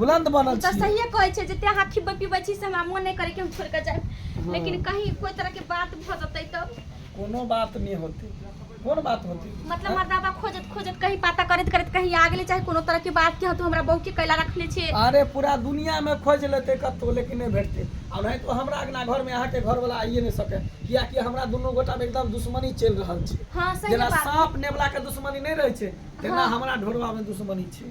बुलन्द ओ बनल तऽ छी सहिए कहै छै जते अहाँ खिबै पिबै छी से हमरा मोन नहि करै कि हम छोड़ि कऽ जायब लेकिन कहीं कोइ तरहके बात भऽ जेतै तब कोनो बात नहि होतै कोन बात होतै मतलब हमर दादा खोजत खोजत कहीं पता करैत करैत कहीं आ गेलै चाहे कोनो तरहके बात कि हँ तू हमरा बहूके कैला रखने छियै अरे पूरा दुनिया में खोज लेते कतौ लेकिन नहीं भेटते आ नहीं तो हमरा अंगना घर में अहाँ के घर वाला आइए नहीं सके कियाकि हमरा दुनू गोटा में एकदम दुश्मनी चल रहल छै हँ सही जेना बात साँप नेवला के दुश्मनी नहीं रहे छै तेना हमरा ढोरवा में दुश्मनी छै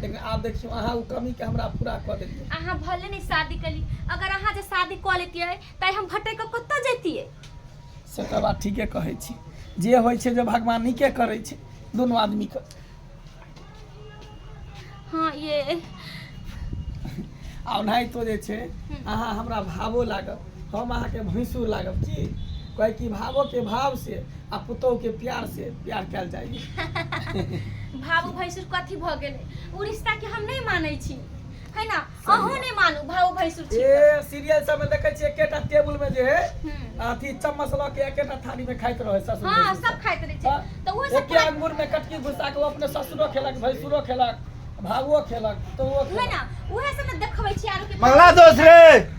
लेकिन आब देखियौ अहाँ ओ कमीके हमरा पूरा कऽ देलियै अहाँ भले नहीं शादी कली अगर अहाँ जे शादी कऽ लेतियै तऽ हम भटक कऽ कतऽ जैतियै से तऽ बात ठीके कहै छी जे होइ छै जे भगवान नीके करै छै दुनू आदमीके हाँ ये आ ओनाहितो जे छै अहाँ हमरा भावो लागत हम अहाँके भैंसुर लागब की कहे कि भावो के भाव से आ पुतोह के प्यार से प्यार कल जाइए भावो भैंसुर कथी भ गेल उ रिश्ता के हम नहीं माने छी है ना अहो नहीं मानू भावो भैंसुर छी ए सीरियल सब में देखे छी एकेटा टेबुल में जे है हम्म। अथी चम्मच ल के एकेटा थाली में खाइत रहे ससुर हाँ भैंसुर सब खाइत रहे हाँ, छी तो वो सब एके अंगूर में कटकी घुसा के वो अपने ससुरो खेलक भैंसुरो खेलक भावो खेलक तो वो है खेलक ना उहे सब देखबै छी आरो के मंगला दोष रे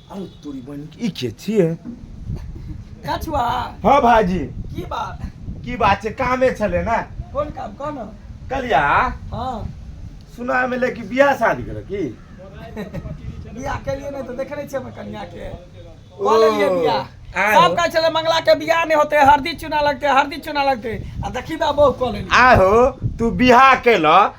अरे तोरी बहन ई के छिए कछुआ हां भाजी की बात की बात छै कामे छले ना कोन काम कोन कलिया हां सुना मिले कि बियाह शादी करे की बियाह के लिए नहीं तो देखे नहीं छे कन्या के बोले लिए बियाह सब कहे छले मंगला के बियाह नहीं होते हरदी चुना लगते हरदी चुना लगते आ देखी बा बहु कॉलेज आहो तू बियाह केला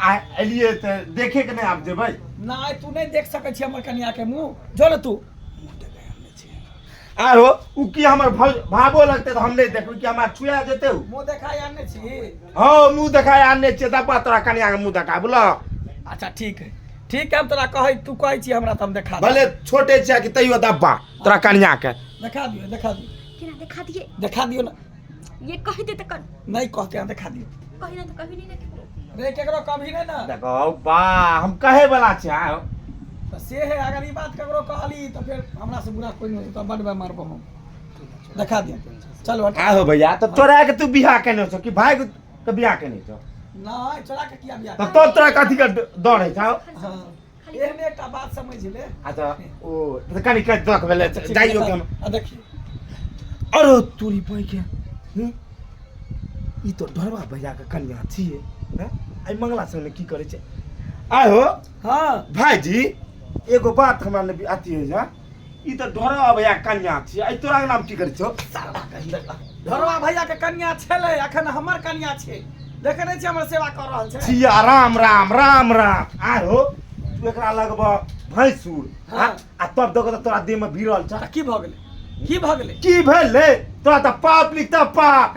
आ एलियै तऽ देखे के नहि आब जेबै नहि तू नहि देख सकै छी हमर कनिया के मुंह जो ने तू आरो उ की हमर भौ- भावो लगते तऽ हम नहि देखबै कि हमरा छुआ जेते उ मुंह देखाय आने छी हँ मुंह देखाय आनने छियै तब तोरा कनिया के मुंह देखा बोला अच्छा ठीक है ठीक है हम तोरा कहै तू कहै छी हमरा तऽ हम देखा देब। भले छोटे छियै कि तैयो दब्बा तोरा कनिया के देखा दियो देखा दियो केना देखा दिए देखा दियो ना ये कहि दे त कर नहीं कह के अंदर खा दियो कहि ना त कभी नहीं देखे रे केकरो कभी नहीं ना देखो बा हम कहे वाला छी आ, तो से है अगर ई बात केकरो कहली तो फिर हमरा से बुरा कोई नहीं होता बड बे मारबो हम दिखा दे चल हट आ हो भैया तो तोरा के तू बियाह केने छो कि भाई के बियाह केने छो नहीं चला के किया बिया तो तोरा कथी के डर है छो हां एहमे एकटा बात समझ ले आ त ओ त कनी के दख भेले जाइयो के हम आ देखी अरे तोरी बई के हम्म? ई तो ढोरवा भैया के कन्या छिए हैं? आई मंगला संग में की करे छै आय हो हाँ भाईजी एगो बात हमरा ने अथी है जा ई तऽ ढोरवा भैया कन्या छी आई तोरा नाम की करै छौ ढोरवा भैया के कन्या छेले अखन हमर कन्या छै देखे नै छी हमर सेवा कर रहल छै सिया राम राम राम राम आ हो तू एकरा लगब भैंसुर हाँ। आ तब देखो तऽ तोरा देह में भिड़ल छ की भ गेलै की भ गेलै की भेलै तोरा तऽ पाप लिख तऽ पाप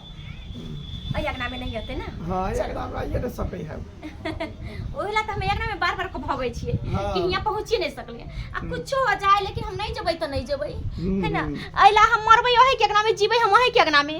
अइ अगना में नहीं होते ना हाँ ये अगना में आइए ना सके है ओही ला त हम अगना में बार बार को भगै छियै हाँ। कि हियां पहुंची नहीं सकलिए आ कुछो हो जाए लेकिन हम नहीं जबै त नहीं जबै है ना हम्म। अइला हम मरबै ओहे के अगना में जीबै हम ओहे के अगना में